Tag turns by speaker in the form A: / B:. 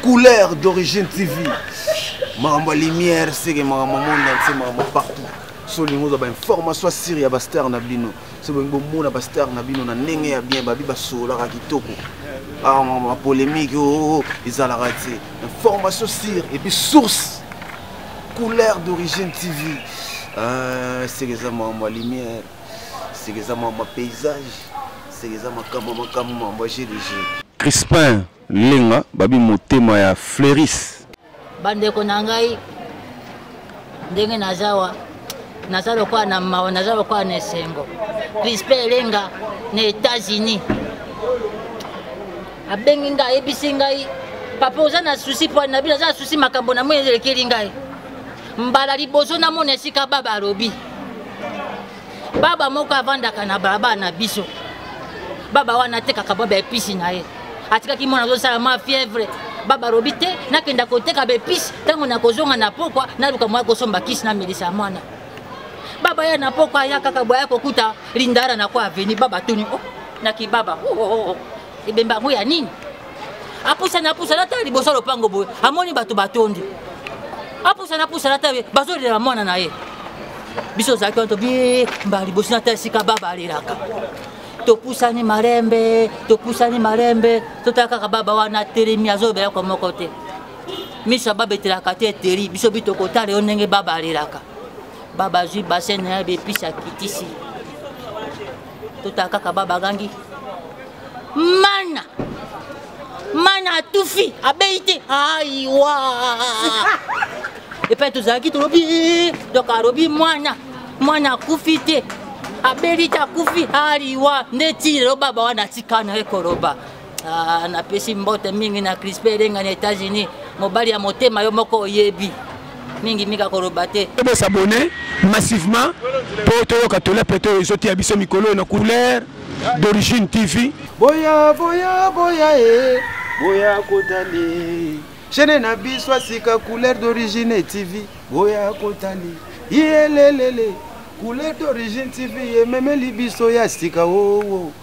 A: couleur d'origine tv makambo ya lumière seke makambo monde entier makambo partout so olingi ozwa bainformation asire ya bastar na bino so bolingi bomona bastar na bino na ndenge ya bien babi basololaka kitoko bapolémike ah, oo oh, oh, ezalaka te information sire epuis source couleur d'origine tv ah, seke eza makambo ya lumière seke eza makambo ya paysage seke eza makambo makambo makambo ya gdg crispin Lenga babi motema ya Fleuris. Bandeko na
B: ngai ndenge nazawa naza lokola na mawa naza lokola na esengo crispe elenga na états-unis abengi ngai ayebisi ngai papa oza na susi mpo na bino aza na susi makambo na moi elekeli ngai mbala liboso namona esika baba alobi baba moko avandaka na balabala na biso baba wana atekaka baba episi na ye atikaki mwana azosala ma fièvre baba alobi te nakenda koteka baepise ntango nakozonga na pokwa naluka moya kosomba kisi namelisa mwana baba ya na pokwa aya kaka boya kokuta lindara na kwa aveni baba tuni o oh, nakibaba oh, oh, ebemba yango ya nini apusani apusani ata liboso ya lopango boye amoni bato batondi apusani apusani ata bazolela mwana na ye biso ozalaki wana tobi mbala liboso nata esika baba alelaka topusani malembe topusani malembe totala kaka baba wana atelemi azolobela kwa moko te miso ya baba etelaka te eteli biso bi tokotala yo ndenge baba alelaka baba azwi basene na ye bepisi akitisi totala kaka baba agangi mana mana atufi abeyi te aiwa epai tozalaki tolobi donc alobi mwana mwana akufi te abeli te akufi aliwa nde ti lelo baba wana atika na ye koloba Ah, napesi mbote mingi na crispe elenga na états-unis mobali ya motema yo moko oyebi mingi mingi akoloba te bosabone
C: massivement mpo toyoka tola mpe to ezotiya biso mikolo oyo na couleur d'origine tv boya boya
A: boya e boya kotali chaine na biso asika couleur d'origine tv boya kotali yelelele couleur d'origine tv ememeli biso ya sika oo oh, oh.